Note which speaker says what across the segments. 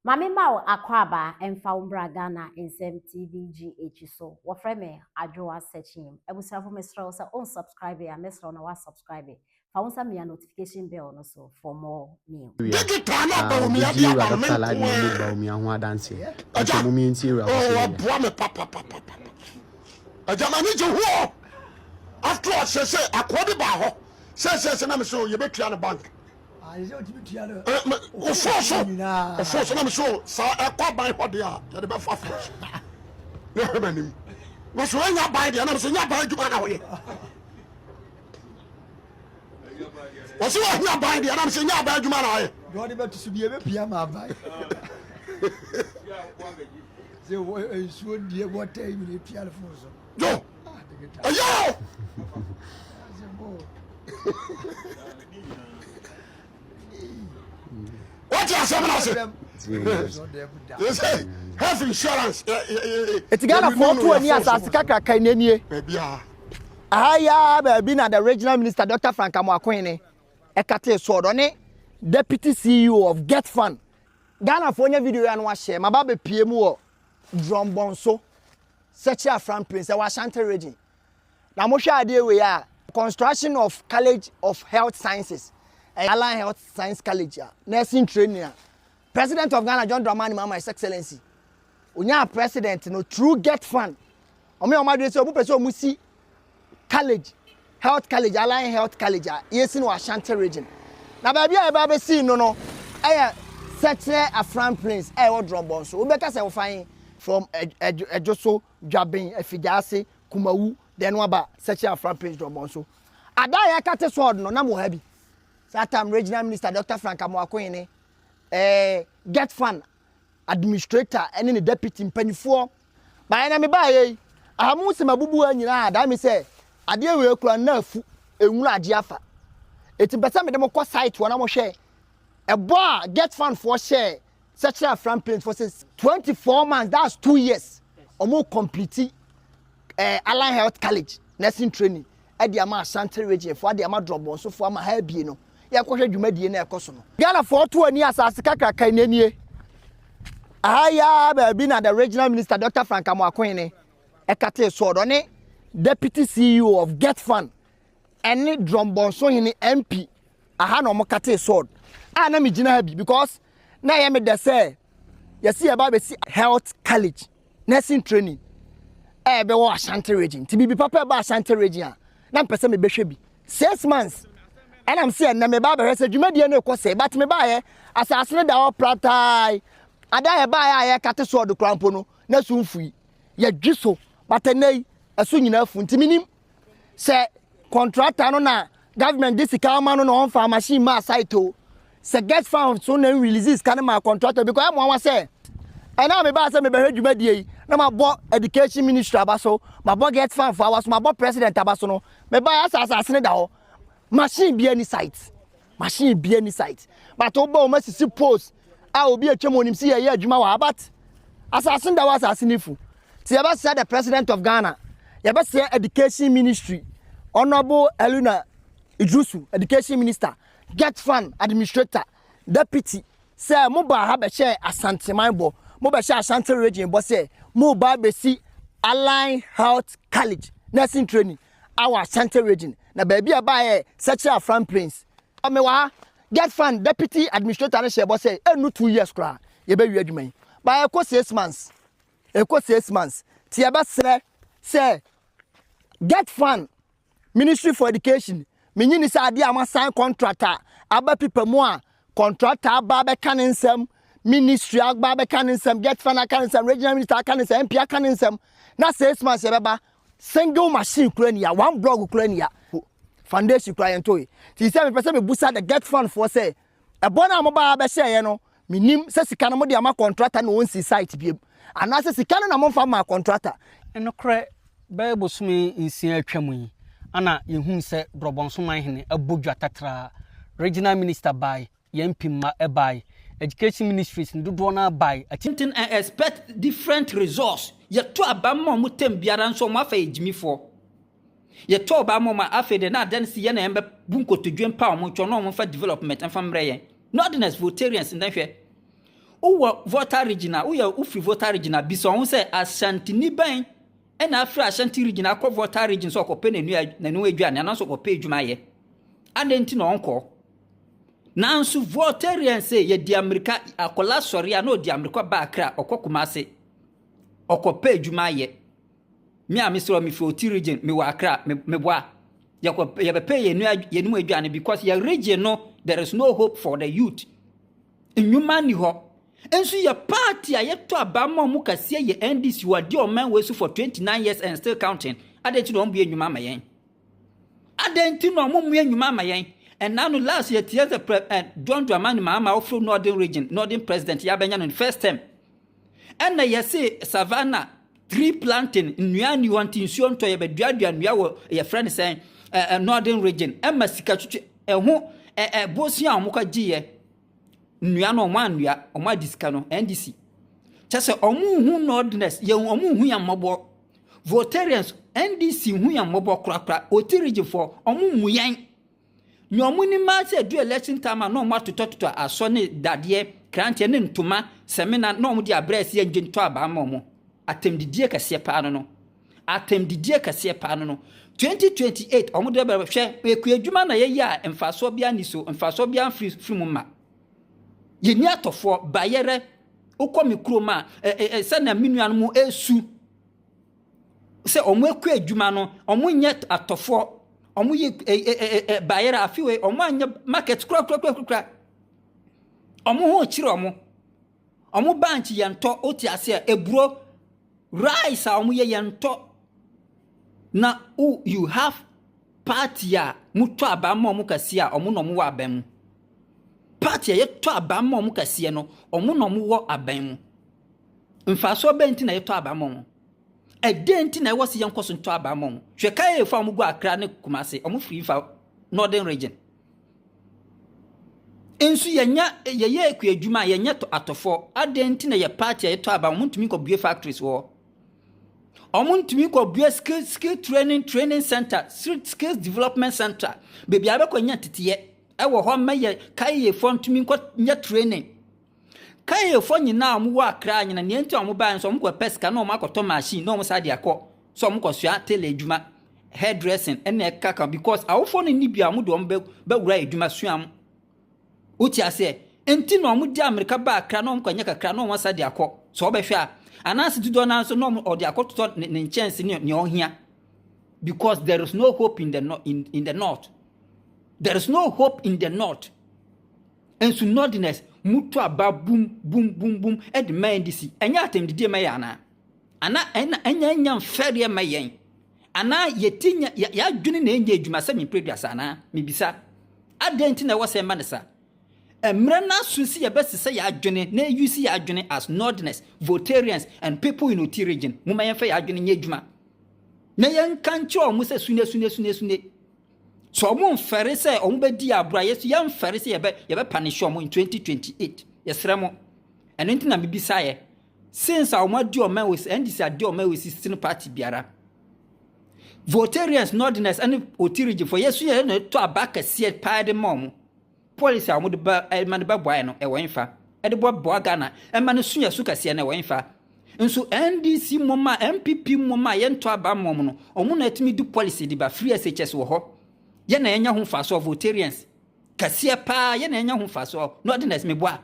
Speaker 1: Ma me ma wo akwaaba mfa wo mbra Ghana nsɛm TV GH so wɔfrɛ me Adwoa Sekyim Abusuafo mesrɛ wo sɛ wo subscribe a mɛsrɛ wo na wa subscribe fa wo nsa mia notification bell no so for more new Area a obedie
Speaker 2: awuraba Kala ne ne ne Bawumia ho adanseɛ ɛnkyɛ mom yɛ ntie awuraba Kala yɛ. Ɔboa me
Speaker 3: papapapapa agya m'ani gye ho o after all sɛsɛ akoa bi baa hɔ sɛsɛsɛ na me se o yɛbɛtua no bank. ɔforo so ɔforo so na meso saa ɛkɔ aban hɔ deɛ a yɛde bɛfa foro so na ɛhwɛ m'anim na so ɛnya aban deɛ na meso nya aban adwuma na woyɛ wɔse wɔhia aban deɛ na meso nya aban adwuma na woyɛ wɔde bɛto so deɛ ɛbɛpia
Speaker 4: ma aban sɛ nsuo deɛ wɔtɛ nyina pia no foro so
Speaker 3: yo ɛyɛ o wate asɛm no ase yɛsɛ health insurance ɛti
Speaker 4: ghanafoɔ to ani asase kakraka nanie baabiaa aha yi ara baabi na the regional minister dr frank amoakohene ɛkatee soɔ dɔ ne deputy ceo of get fund ghanafoɔ nya video yi ano ahyɛ maba bɛpie mu wɔ Drɔmbɔnso, Sɛkyerɛ Aframpree sɛ wɔ Ashanti Region. Na mo hwɛ adeɛ wei a, construction of College of Health Sciences, ɛyɛ Allied Health Science College a, Nursing Training a, President of Ghana John Dramani Mahama His Excellency, ɔnyaa President no through Get Fund. Ɔmo yɛ ɔmo adwene sɛ ɔmo pɛ sɛ ɔmo si college, health college, allied health college a yɛsi no wɔ Ashanti region. Na baabi a yɛba abɛsi no no yɛ Sɛkyerɛ Afran Plains a ɛwɔ Drɔmbɔ nso. Wobɛka sɛ wofa he from Ɛdwoso, Dwaben, Afigyaase, Kumawu, then waba Sɛkyerɛ Afran Plains Drɔmbɔ nso. Ada a yɛakate sword no, na mo ha bi. Saa time regional minister Dr. Frank Amoako Hene, eh, get fun administrator ne ne deputy mpanimfoɔ baeɛ na mebaeɛ yi aha mu sɛ mabubu ha nyinaa daa me sɛ adeɛ wei kura na afu enwura agye afa eti mpɛ sɛ mede mo kɔ site wɔ na mo hwɛ ɛbɔ a get fund foɔ hyɛɛ sɛ kyerɛ afran planes foɔ sɛ 24 months that's two years wɔn complete ɛɛ eh, allied health college nursing training de ama Asante Region foɔ, de ama Drɔbɔnso foɔ, ama ha abie no, yɛnkɔhwɛ dwumadie no a ɛkɔ so no. Ghana foɔ to ani asase kakraka no nie. Aha yi ara baabi na the Regional Minister Doctor Frank Amoah Akohene ɛkatee soɔ no, ɔne Deputy CEO of Get Fund ɛne Drɔbɔnso Hene MP aha na wɔkatee soɔ a na megyina ha bi because na ɛyɛ me dɛ sɛ yɛsi yɛba abɛsi Health College. nursing training a ɛbɛwɔ Ashanti region. Nti biribi papa ɛba Ashanti region a, na mpɛ sɛ mebɛhwɛ bi. Six months ɛna m sɛ ɛnna meba abɛhwɛ sɛ dwumadie no rekɔ sɛ, but mebaeɛ asase no da hɔ pratae. Ada a yɛbaeɛ a yɛrekate sɔɔdo koraa mpo no, na so mfui. Yɛdwe so, but ɛnnɛ yi, ɛso nyinaa afu. Nti menim. sɛ kɔntrata no na government de sika ama no na ɔnfa machine ma site o sɛ get found so na n release sika no ma kɔntrata because ɛmo awa sɛ ɛna a mebaa sɛ mebɛhwɛ dwumadie yi na mabɔ education ministry aba so mabɔ get found fo aba so mabɔ president aba so no mebaa yɛ asase asase no da hɔ machine bia ni site Machine bia ni site. But wo ba o masisi post a obi atwa mu onim si yɛ yɛ adwuma wɔ abat. Asase da wɔ asase ni fu. Ti yɛ bɛ sɛ the president of Ghana. Yɛ bɛ sɛ education ministry. Honorable Eluna Idrusu education minister. Get fund administrator. Deputy sɛ mo ba ha bɛ hyɛ Asante man bɔ. Mo bɛ hyɛ Ashanti region bɔ sɛ mo ba bɛ si Align Health College nursing training. Our Asante Region na baabi a ɛbaeɛ yɛ Sɛkyerɛ Afra Mprins. Mewɔ ha, Get Fund Deputy Administrator no hyɛɛ bɔ sɛ ɛnnu two years koraa yɛbɛwie adwuma yi. But ɛkɔ six months, ɛkɔ six months. Nti yɛbɛsrɛ sɛ Get Fund Ministry for Education, menye ni sɛ adeɛ a moasan contract a aba pipa mu a contractor aba abɛka ne nsɛm, ministry aba abɛka ne nsɛm, Get Fund aka ne nsɛm, regional minister aka ne nsɛm, MP aka ne nsɛm, na six months yɛbɛba Single machine kura nia, one blog kura nia, foundation kura yɛn toyi. Ti sɛ mepɛ sɛ mebusa the get fund foɔ sɛ ɛbɔ no a mo baa bɛhyɛeɛ no menim sɛ sika no mo de ama contractor na ɔnsi site biem anaasɛ sika no na momfa mmaa contractor. Nokorɛ
Speaker 5: bɛyɛ bosome nsia a atwam yi na yɛhunu sɛ Brɔbɔnso Manhene abɔ dwa tatraa, Regional Minister by Yɛn pii mma ɛbae. Education ministries no dodoɔ no ara bae ati. Nti I expect
Speaker 6: different results. Yɛto aba ma wɔn term biara nso wɔn afa yɛ gyimifoɔ. Yɛto aba ma wɔn a afei deɛ na adeɛ no sɛ yɛn na yɛbɛbu nkotodwe mpa wɔn nkyɛn na wɔmfa development mfa mmrɛ yɛn. Northerners, Voltarians nnɛ hwɛ. Wowɔ Volta region a, woyɛ wofiri Volta region a, bisa wɔn ho sɛ Ashantini bɛn ɛna afiri Ashanti region akɔ Volta region sɛ ɔkɔpɛ n'aduane anaasɛ ɔkɔpɛ adwuma ayɛ. Adɛn nti na ɔnkɔ? Nanso Voltairean se yɛdi amirika, akwadaa sɔre a na ɔdi amirika ba Accra, ɔkɔ Kumasi, ɔkɔpɛ adwuma ayɛ. Me a mesrɛ wɔ mefi Oti region, mewɔ Accra, me, meboa. Yɛkɔ, yɛbɛpɛ yɛn nua- yɛn mu aduane because yɛ region no, there is no hope for the youth. Nnwuma nni hɔ. Nso yɛ party a yɛtɔ aba ma ɔmo kɛseɛ yɛ NDC, wɔadi ɔman wei so for 29 years and still counting. Adɛn nti na wɔmmue nnwuma ama yɛn? Adɛn nti na ɔmo mmue nnwuma ama yɛn? Ɛnna no last year tiɛ sɛ prɛ ɛ John Dramani Mahama ɔforo Northern region Northern president yɛ abɛnya no no first term. Ɛnna yɛse Savannah tree planting nnua nni hɔ nti nsuo ntɔ yɛ bɛduadua nnua wɔ yɛfrɛ no sɛn ɛ ɛ Northern region ɛma sika twitwi ɛho ɛ ɛ bosia a ɔmo kɔ gye yɛ nnua no ɔmo annua ɔmo adi sika no NDC kyɛ sɛ ɔmo hu Northerners yɛn ɔmo hu yɛn mmɔbɔ Voltaireans NDC hu yɛn mmɔbɔ korakora, Oti regionfoɔ, ɔmo mmu yɛn. Nea ɔmo nim ara sɛ ɛdu election time a na ɔmo atotɔtotɔ asɔ ne dadeɛ, kranteɛ ne ntoma, samina na ɔmo de abrɛ ɛsɛ yɛn gye ntɔ abaa ma ɔmo. Atɛmdidie kɛseɛ paa no no. Atɛmdidie kɛseɛ paa no no. 2028 ɔmo de bɛba, hwɛ, ɛkuadwuma na yɛyɛ a mfasoɔ biara nni so, mfasoɔ biara mfiri mfiri mu mma. Yɛnni atɔfoɔ, bayerɛ, wokɔ me kurom a, sɛnea me nuanom ɛresu sɛ wɔn akɔ adwuma no, wɔn nyɛ atɔfoɔ, wɔn yɛ bayerɛ, afei wɔn anyɛ market kura kura kura kura, wɔn ho kyerɛ wɔn. Ɔmo bankye yɛ ntɔ wote aseɛ eburo rice a ɔmo yɛ yɛ ntɔ na wo you have party a mo tɔ aban ma ɔmo kɛseɛ a ɔmo na ɔmo wɔ aban mu party a yɛtɔ aban ma ɔmo kɛseɛ no ɔmo na ɔmo wɔ aban mu mfaasoɔ bɛn ti na yɛtɔ aban ma ɔmo ɛdɛn ti na ɛwɔ se yɛnkɔ so ntɔ aban ma ɔmo hwɛ kaefo a ɔmo gu akra ne kumase ɔmo firi nfa northern region Nso yɛnyɛ yɛyɛ kua adwuma a yɛnyɛ tɔ atɔfoɔ adɛn nti na yɛ party a yɛtɔ aba wɔn ntumi kɔ bue factories wɔ hɔ wɔn ntumi kɔ bue skill skill training training center skills development center beebi a bɛkɔ nya teteɛ ɛwɔ hɔ mɛ yɛ kayefoɔ ntumi nkɔ nyɛ training. Kayefɔ nyinaa a wɔwɔ Accra nyinaa nea nti a wɔbaeɛ nso wɔkɔpɛ sika na wɔakɔtɔ machine na wɔsan de akɔ sɛ wɔkɔsua tailor adwuma, hair dressing ne nea ɛkeka because awofoɔ no nni bia a wɔde wɔn bɛwura adwuma sua mu. Wote aseɛ? Nti na wɔde amirika ba Accra na wɔkɔnyɛ kakra na wɔsan de akɔ. Sɛ wɔbɛhwɛ a, anaase dodoɔ no ara nso na wɔde akɔtotɔ ne, ne nkyɛnse ne nea ɔhia. Because there is no hope in the, no- in, in the north. There is no hope in the north. Nso Northerners mutu aba bum bum bum bum de ma NDC. Ɛnyɛ atɛmdidie ma yɛn anaa? Anaa ɛna ɛnyɛ ɛnyɛ mfɛreɛ ma yɛn? Anaa yɛti nya yɛadwene na ɛnyɛ adwuma sɛ memprɛduasa anaa? Mebisa. Adɛn nti na ɛwɔ sɛ ɛma no sa? Mmerɛ no aso si yɛbɛsesɛ yɛadwene na ɛyusi yɛadwene as Northerners, Voltarians and people in Oti region. Momma yɛmfa yɛadwene nyɛ adwuma. Na yɛnka nkyerɛ wɔn sɛ sune sune sune sune. So wɔmfɛre sɛ wɔbɛdi agorɔ a yɛso yɛmfɛre sɛ yɛbɛ yɛbɛpanishe wɔn in 2028 yɛsrɛ mo ɛno nti na mebisaeɛ since a wɔn adi wɔn ɛwɔ NDC adi wɔn ɛwɔ sisi no party biara votarians northerners ɛne oti region fo yɛso yɛ na ɛtɔ aba kɛseɛ paa de ma wɔn Policy a wɔde ba eh, ma no bɛboaeɛ no, ɛwɔ mfa. Ɛde boaboa Ghana ɛma no sua su kɛseɛ no, ɛwɔ mfa. Nso NDC mmom a, NPP mmom a, yɛntɔ aba mmom no, wɔn na atumi de policy de ba. Free SHS wɔ hɔ. Yɛ na yɛnya ho mfasoɔ, votarians. Kɛseɛ paa, yɛ na yɛnya ho mfasoɔ. Northerners, meboa.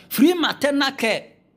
Speaker 6: Free maternal care.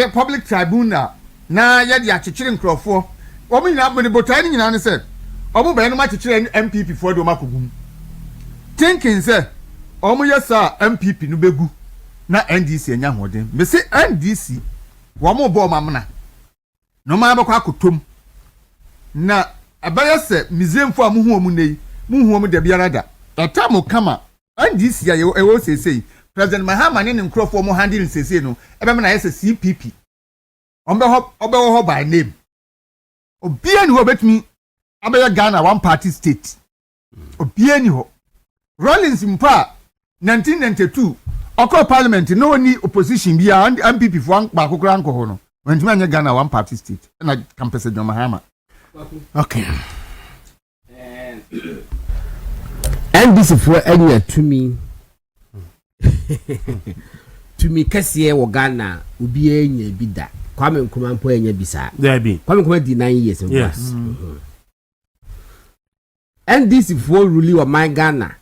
Speaker 7: Pɛ public tribunal na yɛde akyekyere nkurɔfoɔ wɔn nyinaa mede botaeɛ no nyinaa ne sɛ wɔn bɛyɛ no mo akyekyere NPP foɔ de wɔn akɔ gu mu thinking sɛ wɔn yɛ saa a NPP no bɛgu na NDC anya ahoɔden mese NDC wɔn bɔ wɔn amena. Na wɔn ara bɛkɔ akɔtɔ mu, na ɛbɛyɛ sɛ Misraimfoɔ a mohu wɔn nnɛ yi, morenhu wɔn da biara da. The time will come a NDC a yɛwɔ ɛwɔ hɔ seesei, President Mahama ne ne nkorɔfoɔ a wɔn handle no seesei no, ɛbɛma no ayɛ sɛ CPP. Wɔbɛhɔ, wɔbɛwɔ hɔ by name. Obiara nni hɔ a ɔbɛtumi abɛyɛ Ghana one party state. obiara ni hɔ rollins mpo a 1992 ɔkɔɔ parliament na ɔni opposition bi a npp foɔ baako koraa nkɔ hɔ no wɔntumi anyɛ ghana one party state ɛna kampɛsɛ john mahama
Speaker 2: okay
Speaker 8: ndc foɔ anya tumi tumi kɛseɛ wɔ ghana obiara nya bi da kwame nkrumah mpo anya bi saa kwame nkrumah di
Speaker 2: nine years yes.
Speaker 8: Mm -hmm. NDCfoɔ ruli ɔman Ghana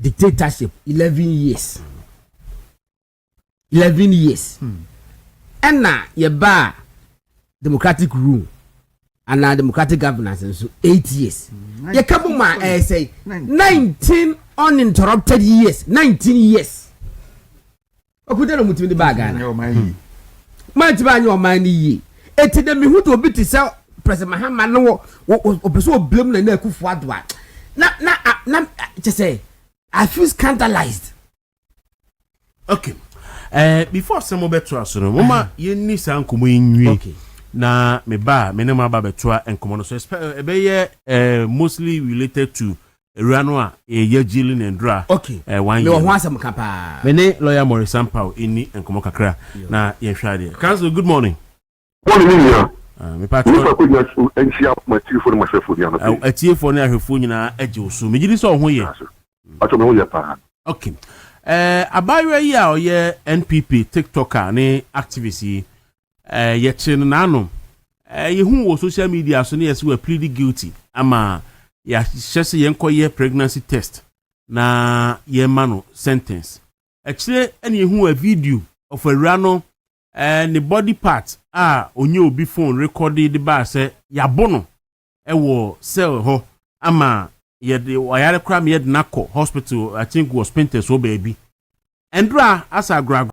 Speaker 8: dictatorship eleven years eleven years ɛna hmm. yɛbaa democratic rule anaa democratic governance nso eight years hmm. yɛka mu ma ɛyɛ sɛ nineteen uninterrupted years nineteen years ɔko dɛ na ɔmo tumi de baa ghana maa ntumi anyɛ ɔman no yie eti dɛ mihu de obi te sɛ president mahama no wɔ ɔpɛ sɛ ɔbla mu na na akufo ado a na na na kyɛ sɛ i feel scandalized.
Speaker 2: okay uh, before sɛ mobɛto aso no moma uh-huh. yɛnni saa nkɔmmɔ yi nwie okay. na meba a me ne mo aba bɛtoa nkɔmmɔ no so ɛbɛyɛ uh, mostly related to Awura no a ɛyɛ Yagyi Lina Ndura ɛɛ one year. Mewɔ ho
Speaker 8: asɛm ka
Speaker 2: paa.
Speaker 8: Me ne lawyer Morris
Speaker 2: Sampaw nni nkɔmmɔ kakra na yɛnhwɛ adeɛ. Council good morning. Morning me nua. Ah,
Speaker 3: me patrɔ. Nipa ko
Speaker 2: nya so
Speaker 3: nhyia mo atiefo ne mo ahwɛfo nua no pɛ. Atiefo ne ahwɛfo
Speaker 2: nyinaa agye wo so. Megye di sɛ ɔho yɛ. Patrɔ me ho yɛ
Speaker 3: paa. Okay.
Speaker 2: Eh, abaayewa yi a ɔyɛ NPP TikToker ne activist yi. Eh, yɛkyere no n'anom. Eh, yehu wɔ social media so ne yɛse wɔ plead guilty. Ama yɛahyɛ sɛ yɛnkɔyɛ pregnancy test na yɛmma no sentence. Akyire na yehu a video of awura no eh, ne body part a ɔnya obi phone rekɔde de baa sɛ yɛabo no wɔ cell hɔ ama yɛde wayare koraa ma yɛde no akɔ hospital, I think wɔ Spintex hɔ baabi. Ɛndura asa agorɔ agorɔ.